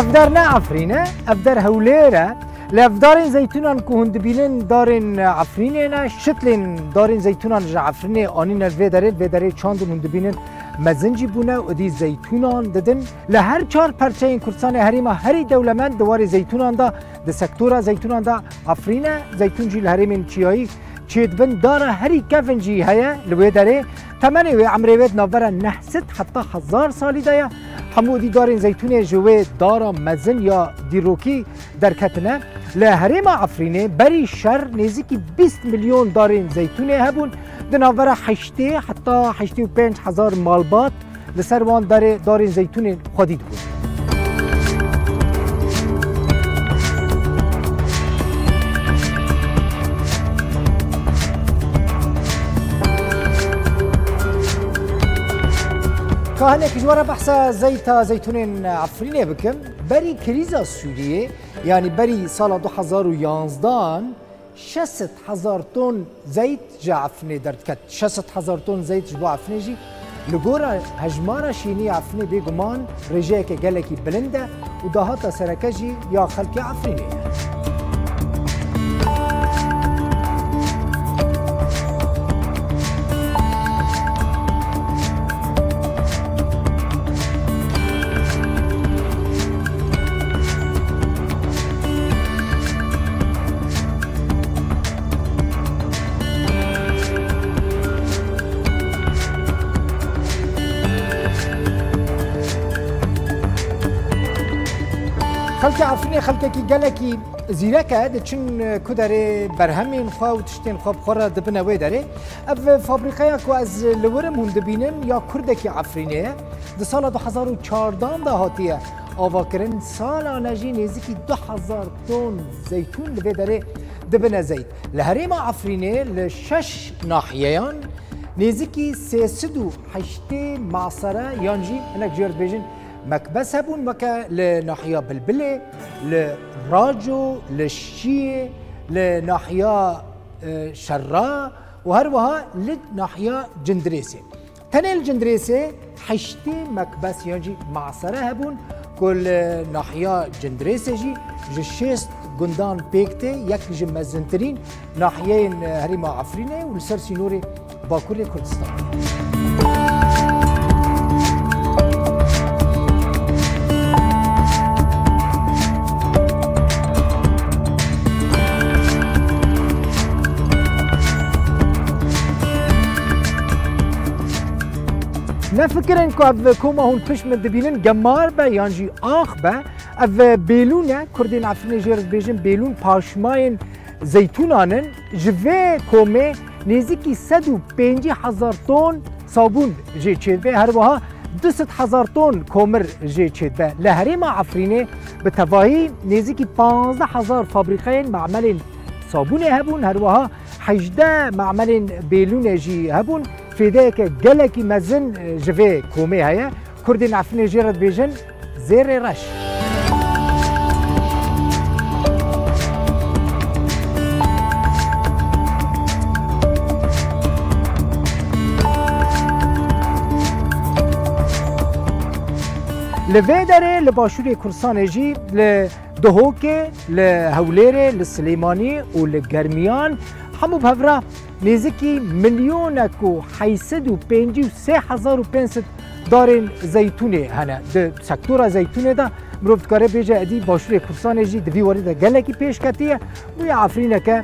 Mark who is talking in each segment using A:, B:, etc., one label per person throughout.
A: Evdar ne Afrîne, evdar Hewlêr e. Li evdarên zeytûnan ku hûn dibînin darên Afrînê ne, şitlên darên zeytûnan ji Afrînê anîne vê derê, vê derê çandin hûn dibînin mezin jî bûne û dî zeytûnan didin. Li her çar perçeyên Kurdistanê herêma herî dewlemend di warê zeytûnan de Di sektora zeytûnan de Efrîn e, zeytûn jî li herêmên çiyayî çê dibin, dara herî kevn jî heye li wê derê. Temenê wê emrê wê di navbera neh sed heta hezar salî de ye. Hemû dî darên zeytûnê ji wê dara mezin ya dîrokî derketine. Li herêma Efrînê berî şer nêzîkî bîst milyon darên zeytûnê hebûn, di navbera heştê heta heştê û pênc hezar malbat. Li ser wan derê darên zeytûnên xwedî dibûn. Ka hinek ji we re behsa zeyta zeytûnên Efrînê bikim. Berî krîza Sûriyê yanî berî sala du hezar û yanzdan Şesit hezar ton zeyt ji Efrinê derdiket. Şesit hezar ton zeyt ji bo Efrinê jî li gora hejmara şînî ya Efrinê bê guman rêjeyeke gelekî bilind e û dahata sereke jî ya xelkê Efrinê ye. Xelkê Efrînê xelkekî gelekî zîrek e, diçin ku derê berhemên xwe û tiştên xwe bi xwe re dibine wê derê. Ev fabrîqeya ku ez li wir im hûn dibînin ya kurdekî Efrînê ye. Di sala du hezar û çardan de hatiye Avakirin salane jî nêzîkî du hezar ton zeytûn li vê derê dibine zeyt. Li herêma Efrînê li şeş nahiyeyan nêzîkî sê sid û heştê masere yan jî hinek ji we dibêjin mekbes hebûn weke li nahiya Bilbilê, li Raco, li Şiyê, li nahiya Şerra û her wiha li nahiya Cindirêsê. Tenê li Cindirêsê heştê mekbes yan jî masere hebûn ku li nahiya Cindirêsê jî ji şêst gundan pêk tê, yek ji mezintirîn nahiyeyên herêma Efrînê û li ser sînorê Bakurê Kurdistanê. Nefikirin ku ev koma hûn pişt min dibînin gemar be yan jî ax be. Ev bêlûn e, Kurdên Efrînê jê re dibêjin bêlûn paşmayên zeytûnan in. Ji vê komê nêzîkî sed û pêncî hezar ton sabûn jê çêdibe, her wiha du sed hezar ton komir jê çêdibe. Li herêma Efrînê bi tevahî nêzîkî pazdeh hezar fabrîkeyên mamelên sabûnê hebûn, her wiha Hejdeh macmelên bêlûnê jî hebûn. Fêdeyeke gelekî mezin ji vê komê heye. Kurdên Efrînê jê re dibêjin Zêrê Reş. Li vê derê li başûrê Kurdistanê jî li Duhokê li Hewlêrê, li Silêmanî û li Germiyan hemû bi hev re nêzikî milyonek û heyî sed û pêncî û sê hezar û pênc sed darên zeytûnê hene. Di sektora zeytûnê de mirov dikare bêje edî Başûrê Kurdistanê jî di vî warî de gelekî pêşketiye bûye efrîneke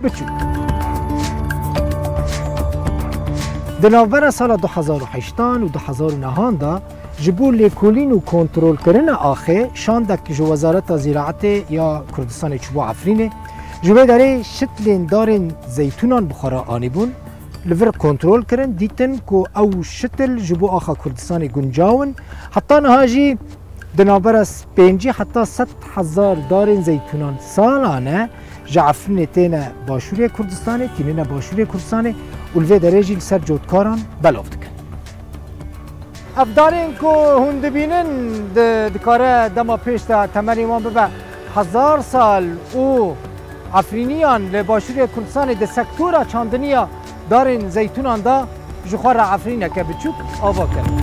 A: biçûk. Di navbera sala du hezar û heştan û du hezar û nehan de Ji bo lêkolîn û kontrolkirina axê şandek ji Wezareta Zîraetê ya Kurdistanê çûbû Efrînê. Ji vê derê şitlên darên zeytûnan bi xwe re anîbûn. Li vir kontrol kirin, dîtin ku ew şitil ji bo axa Kurdistanê guncaw in. Heta niha jî di navbera pêncî heta sed hezar darên zeytûnan salane ji Efrînê têne Başûrê Kurdistanê, tînine Başûrê Kurdistanê û li vê derê jî li ser cotkaran belav dikin. Ev darên ku hûn dibînin dikare dema pêş de temelên wan bibe hezar sal û Efrîniyan li Başûrê Kurdistanê di sektora çandiniya darên zeytûnan de ji xwe re efrîneke biçûk ava kirin.